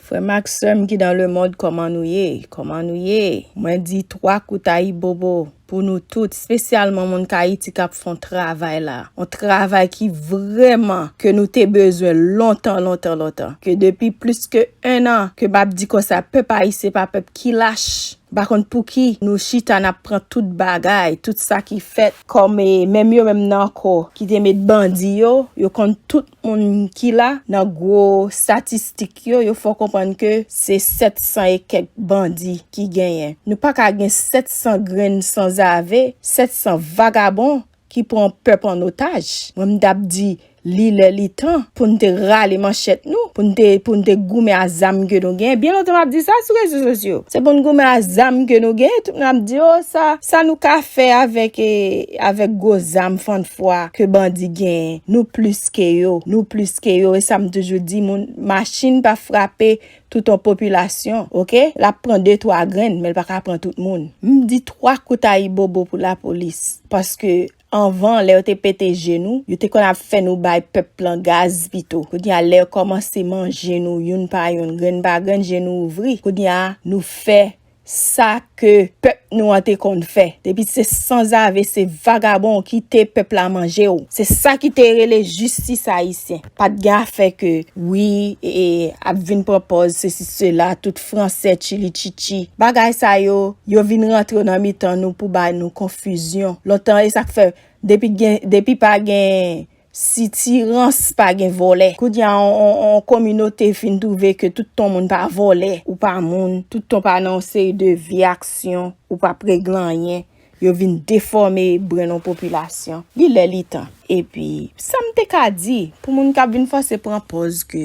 Frè m ak sè m ki dan le mond kòman nou ye kòman nou ye. Mwen di 3 kout ayibobo pou nou tout spesyalman moun kayiti kap fon travay la on travay ki vrèman ke nou te bezwen lontan lontan lontan ke depi plis ke 1 an ke map di konsa pèp ayisyen pa pèp ki lach m pa konn pouki nou chita nap pran tout bagay tout sa ki fèt kòm e menm yo menm nan anko ki te met bandi yo yo konn tout moun ki la nan gwo statistik yo, yo fè w konprann ke se 700 e kèk bandi ki genyen. Nou pa ka gen 700 grenn sanzave, 700 vagabon ki pran pèp an otaj. Mwen m ta p di li lè li tan pou n te rale manchèt nou, pou n te pou n te goumen a zam ke nou genyen. Byen lontan m ap di sa sou rezo sosyo. Se pou n goumen a zam ke nou genyen, tout moun ap di o sa sa nou ka fè avèk e. Avèk gwo zam fann fwa ke bandi genyen, nou plis ke yo, nou plis ke yo, e sa m toujou di moun, machin pa frape tout yon popilasyon, ok, l ap pran de twa grenn, men l pa ka pran tout moun. M di twa kout ayibobo pou lapolis, paske anvan lè yo te pete je nou, yo te konn ap fè nou bay pèp lan gaz pito, kounye a lè yo kòmanse manje nou youn pa youn, grenn pa grenn, je nou ouvri, kounye a nou fè Sa ke pèp nou an te konn fè. Depi se sanzave, se vagabon ou kite pèp la manje ou. Se sa ki te rele jistis ayisyen. Pa t gen afè ke wi e ap vin pran pòz sesi sela, tout franse chili chichi. Bagay sa yo, yo vin rantre nan mitan nou pou bay nou konfizyon. Lontan e sa k fè depi gen depi pa gen. Sitirans pa gen vòlè. Kounya on kominote fin twouve ke tout ton moun pa vòlè, ou pa moun, tout ton pa nan on seri de vye aksyon, ou pa p regle anyen, yo vin defòme brenn on popilasyon. Li lè li tan. Epi, sa m te ka di, pou moun k ap vin fòse pran pòz ke,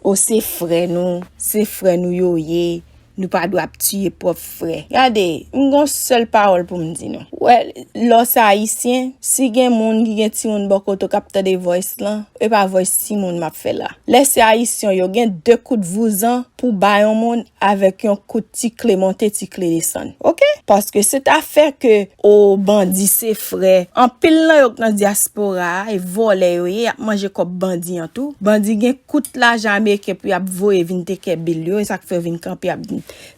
o se frè nou, se frè nou yo ye, Nou pa dwe ap tiye pwòp frè. Gade, m gon sèl pawòl pou m di nou. Wè, lè w se Ayisyen, si gen moun ki gen timoun bò kote w k ap tande voice lan, e pa voice timoun m ap fè la. Lè se Ayisyen w yo, gen de kout vouzan pou w ba yon moun avèk yon kout ti kle monte ti kle desann. Ok? Paske se ta fè ke o bandi se frè. Anpil nan yo k nan dyaspora a, e vòlè yo ye, y ap manje kòb bandi an tou. Bandi gen. Kout lajan ameriken pou yap voye vin tekè bil yo esak fè yo vin kanpe ap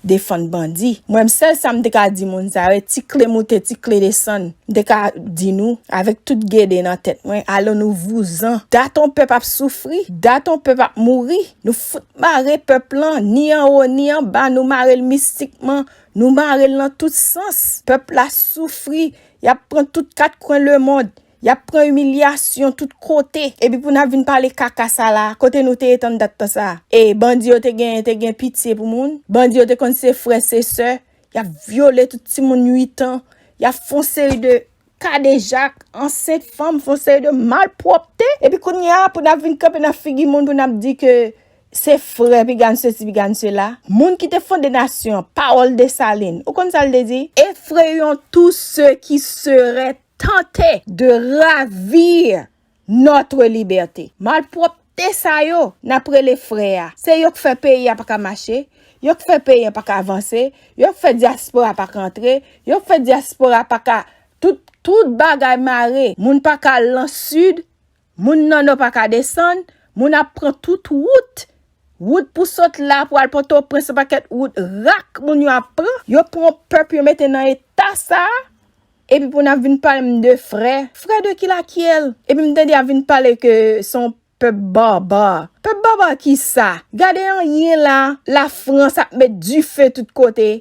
defann bandi mwen m sèl sam te ka di moun sa yo e ti kle moute ti kle desann m te ka di nou avèk tout gede nan tèt mwen alon nou vouzan dat on pèp ap soufri dat on pèp ap mouri nou fout mare pèp lan ni anwo ni anba nou marel mistikman nou marel nan tout sans pèp la soufri yap pran tout kat kwen lemond. Yap pran imilyasyon tout kote epi pou nap vin pale kaka sa la kote nou te ye tann dat tan sa e bandi yo te gen te gen pitye pou moun bandi yo te konn se frè se sè yap vyole tout ti moun 8 ans yap fon seri de kadejak ansent fanm fon seri de malpwòpte epi kounye a pou nap vin kanpe nan figi moun pou nap di ke se frè piga n sesi piga n sela moun ki te fonde nasyon pawòl Dessalines ou konn sa l te di efrayons tous ceux qui seraient tante de ravir notre liberte. Malpropte sa yo nap rele frè a, se yo k fè peyi a pa ka mache, yo k fè peyi a pa ka vanse, yo k fè diaspora pa ka antre, yo k fè diaspora pa ka, tout bagay mare, moun pa ka al lan sud, Moun nan no paka desann, moun ap pran tout wout, wout pou sot la pou al potoprens se paket wout rak moun yo ap pran, yo pran pèp yo mete nan eta sa, epi pou nap vin pale m de frè, frè de ki la kiyèl, epi m tande yap vin pale ke son pèp barbar, pèp barbar kisa, gade anyen la, la frans ap met dife tout kote.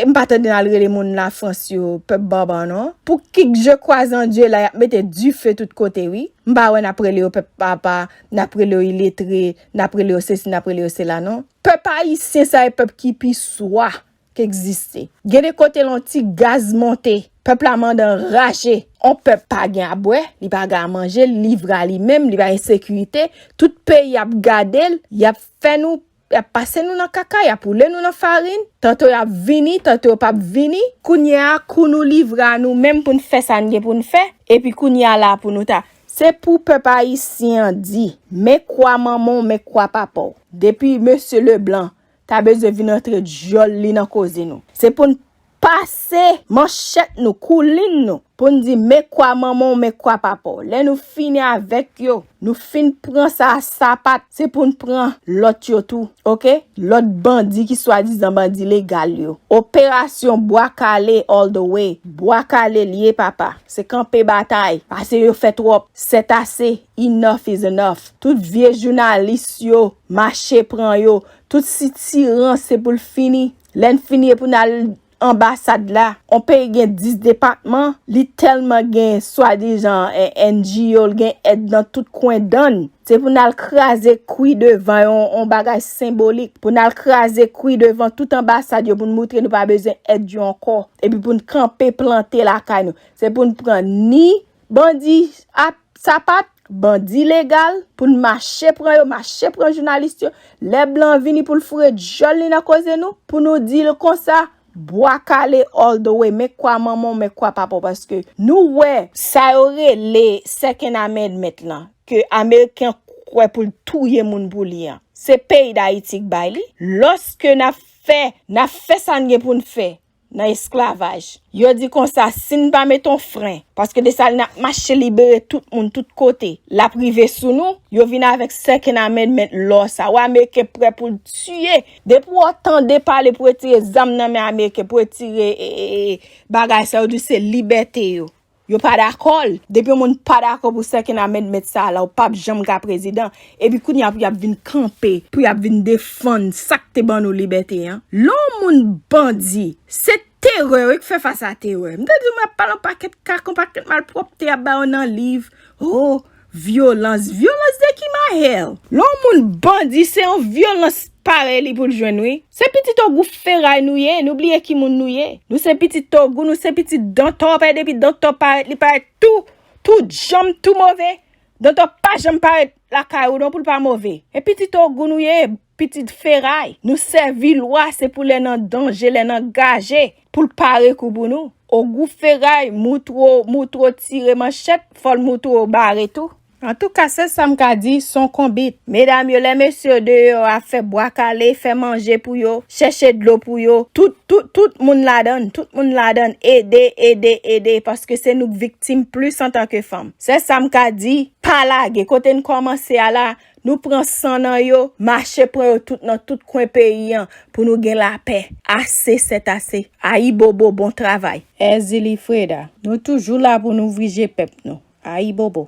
E m pa tande nan al rele moun la France yo pèp barbar non. Pou kik je crois en Dieu la yap mete du feu tout kote wi. M pa wè nap rele yo pèp papa, nap rele yo iletre, nap rele yo sesi nap rele yo sela non. Pèp ayisyen sa e pèp ki pi swa. k egziste. Gen de kote l on ti gaz monte. Pèp la mande anraje. On pèp pa gen a bwè, li pa gen a manje, li livre a li menm, li pa gen sekirite. Tout peyi ap gade l, y ap fè nou, y ap pase nou nan kaka, y ap woule nou nan farin. Tanto y ap vini, tanto yo p ap vini. Kounye a, kou nou livre a nou menm pou n fè sa n gen pou n fè, epi kounye a la pou nou ta. Se pou pèp ayisyen an di, men kwa manman w, men kwa papa w. Depi mesye Leblanc, ta bezwen vin antre dyòl li nan koze nou. Se pou n pase manchèt nou, koulin nou, pou n di men kwa manman w, men kwa papa w. Lè nou fini avèk yo, nou fin pran sa a sapat, se pou n pran lòt yo tou. Oke? Lòt bandi ki swadizan bandi legal yo. Operasyon Bwa Kale all the way. Bwa Kale l ye papa. Se kanpe batay. Pase yo fè twòp. Sètase. Enough is enough. Tout vye jounalis yo Mache pran yo. Tout sitirans se pou l fini. Lè n fini e pou n al anbasad la. On peyi gen 10 depatman, li tèlman gen swadizan NGO, l gen èd nan tout kwen dan n. Se pou n al kraze kwi devan yo, on bagay senbolik. Pou n al kraze kwi devan tout anbasad yo pou n moutre nou pa bezwen èd yo ankò. Epi pou n kanpe plante lakay nou. Se pou n pran ni Bandi ap sapat, bandi legal, pou n mache pran yo, mache pran jounalis yo, lè blan an vini pou l foure dyòl li nan koze nou, pou nou di l konsa, bwa kale all the way, men kwa manman w, men kwa papa w, paske nou wè, sa yo rele second amendment lan, ke ameriken an kwè pou l touye moun pou li an, se peyi Dayiti k bay li, lòske n ap fè, n ap fè sa n gen pou n fè, nan esklavaj. Yo di konsa si n pa mete yon fren, paske Desalin ap mache libere tout moun tout kote, l ap rive sou nou, yo vin avèk sè Kenamèn mèt lò sa wè ameriken prè pou l tiye, depi wè w tande pale pou retire zam nan men ameriken, pou retire bagay sa yo di w se libète yo. Yo pa dakò l. Depi yon moun pa dakò pou second amendment sa a la ou pap janm ka prezidan. Epi kounye a pou y ap vin kanpe, pou y ap vin defann sa k te ban nou libète an. Lè yon moun bandi, se terè wi k fè fas a terè. M te di w m ap pale yon pakèt kaka, yon pakèt malpwòpte y ap ba yo nan liv. O! Vyolans? Vyolans de ki maher? Lè yon moun bandi se yon vyolans parèy li pou l jwenn wi. Se pitit ogou feray nou ye nou bliye ki moun nou ye nou se pitit ogou nou se pitit dantò pae depi dantò parèt li parèt tou tou djanm tou move dantò pa janm parèt lakay ou non pou l pa move e pitit ogou nou ye. Pitit feray, nou sèvi lwa se pou lè nan danje, lè nan gaje, pou l pare kou pou nou. Ogou feray, moutro, moutro tire manchèt, fò l moutro bare tou. Antouka, sèl sa m ka di, s on konbit. Medam yo, lè mesye yo deyò a, fè bwa kale, fè manje pou yo, chèche dlo pou yo, tout, tout, tout moun ladan l, tout moun ladan l, ede, ede, ede, paske se nou k viktim plis antanke fanm. Sèl sa m ka di, pa lage, kote n kòmanse a la, Nou pran san nan yo, mache pran yo tout nan tout kwen peyi an pou nou gen lapè. Ase sèt ase. Ayibobo bon travay. Èzili Freda. Nou toujou la pou n ouvri je pèp nou. Ayibobo.